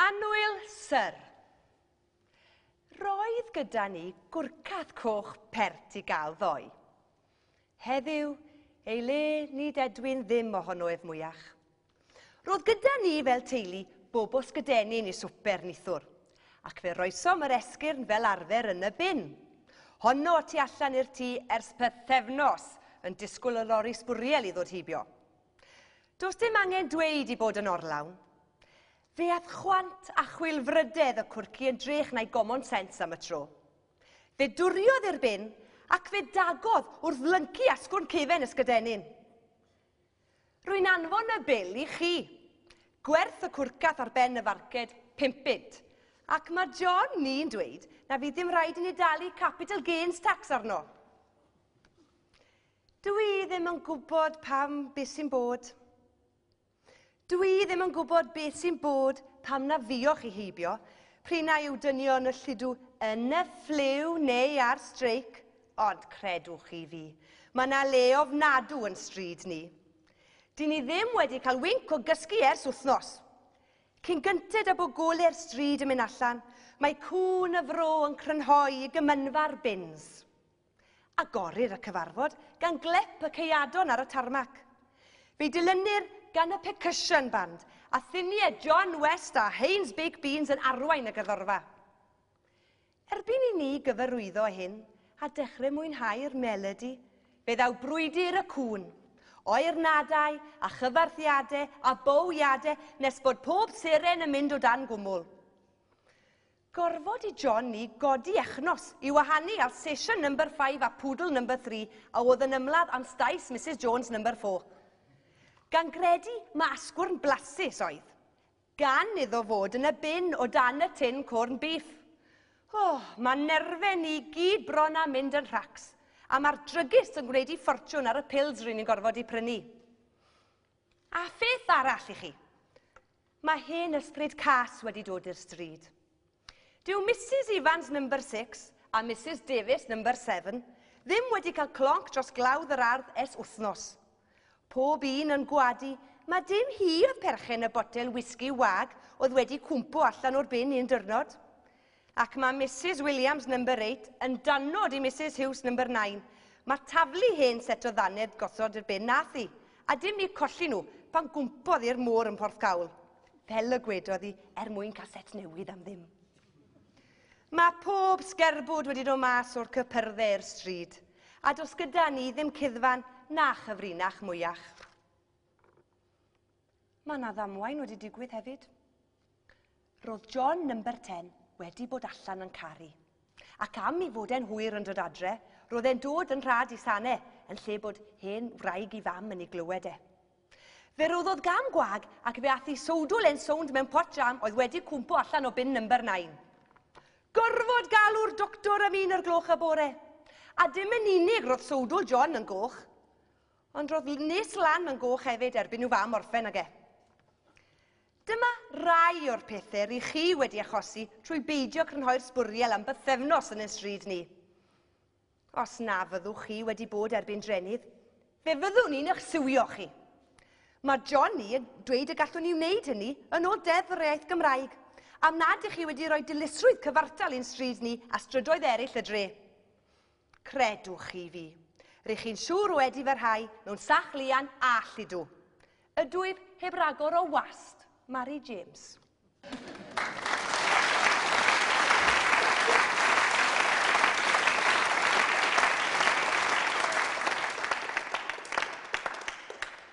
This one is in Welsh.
Annwyl, Syr. Roedd gyda ni gwrcath coch pert i gael ddoe. Heddiw, ei le, nid edwyn ddim ohono ef mwyach. Roedd gyda ni fel teulu bobos gydenyn i swper nithwr, ac fe roesom yr esgyrn fel arfer yn y bin. Honno y tu allan i'r tŷ ers pethefnos, yn disgwyl y lori sbwriel i ddod heibio. Does dim angen dweud i bod yn orlawn. Fe ath chwant a chwilfrydedd y cwrci yn drech na'i gomon sens am y tro. Fe dwriodd i'r bin ac fe dagodd wrth lyncu asgwrn cefen ysgydenyn. Rwy'n anfon y bil i chi. Gwerth y cwrcath ar ben y farced, pump bunt. Ac mae John ni'n dweud na fydd dim rhaid i ni dalu capital gains tax arno. Dw i ddim yn gwybod pam beth sy'n bod. Dw i ddim yn gwybod beth sy'n bod pam na fiwch i heibio, prin na yw dynion y lludw yn y ffliw neu ar streic, ond credwch chi fi, mae na le ofnadw yn stryd ni. Dyn ni ddim wedi cael winc o gysgu ers wythnos. Cyn gynted a bod gole'r stryd yn mynd allan, mae cŵn y fro yn crynhoi i gymynfa'r bins. Agorir y cyfarfod gan glep y ceuadon ar y tarmac. Fe'i dilynir gan y Percussion Band, a thuniau John West a Haynes Baked Beans yn arwain y gerddorfa. Erbyn i ni gyfarwyddo â hyn a dechrau mwynhau'r melodi, fe ddaw brwydr y cŵn, oernadau a chyfarthiadau a bowiadau nes bod pob seren yn mynd o dan gwmwl. Gorfod i John ni godi echnos i wahanu ar sesiwn number five a poodle number three a oedd yn ymladd am staes Misus Jones number four. Gan gredu ma asgwrn blasus oedd. Gan iddo fod yn y bin o dan y tin corn beef. Oh, ma nerfe ni gyd bron a mynd yn rhacs. A ma'r drygist yn gwneud i ffortiwn ar y pils ryn ni'n gorfod i prynu. A pheth arall i chi. Mae hen ysbryd cas wedi dod i'r stryd. Dyw Misus Evans number 6 a Misus Davies number 7 ddim wedi cael clonc dros glawdd yr ardd es wythnos. Pob un yn gwadu mae dim hi oedd perchen y botel wisgi wag oedd wedi cwmpo allan o'r bin un dyrnod. Ac mae Misus Williams, number eight, yn danod i Misus Hughes, number nine. Mae taflu hen set o ddannedd gosod i'r bin nath hi, a dim ni colli nhw, pan gwmpodd i'r môr yn Porthcawl. Fel y gwedodd hi, er mwyn cael set newydd am ddim. Mae pob sgerbwd wedi dod mas o'r cypyrdde i'r stryd, a dos gyda ni ddim cuddfan na chyfrinach mwyach. Mae yna ddamwain wedi digwydd hefyd. Ro'dd John number ten wedi bod allan yn caru. Ac am i fod e'n hwyr yn dod adre, ro'dd e'n dod yn rhad i sane, yn lle bod hen wraig i fam yn ei glywed e. Fe roddodd gam gwag ac fe ath i sowdl e'n sownd mewn pot jam oedd wedi cwmpo allan o bin number nine. Gorfod galw'r doctor am un o'r gloch y bore. A dim yn unig ro'dd sowdl John yn goch, ond ro'dd nes lan yn goch hefyd erbyn i'w fam orffen ag e. Dyma rai o'r pethe ry chi wedi achosi trwy beidio crynhoi'r sbwriel am bythefnos yn yn stryd ni. Os na fyddwch chi wedi bod erbyn drenydd, fe fyddwn ni'n eich siwio chi. Mae Johnny yn dweud y gallwn ni wneud hynny yn ôl Deddf yr Iaith Gymraeg, am nad ych chi wedi rhoi dilysrwydd cyfartal i'n stryd ni a strydoedd eraill y dre. Credwch chi fi, rych chi'n siŵr wedi fy rhai mewn sach lian all ydw. Ydwyf heb ragor o wast, Mari James.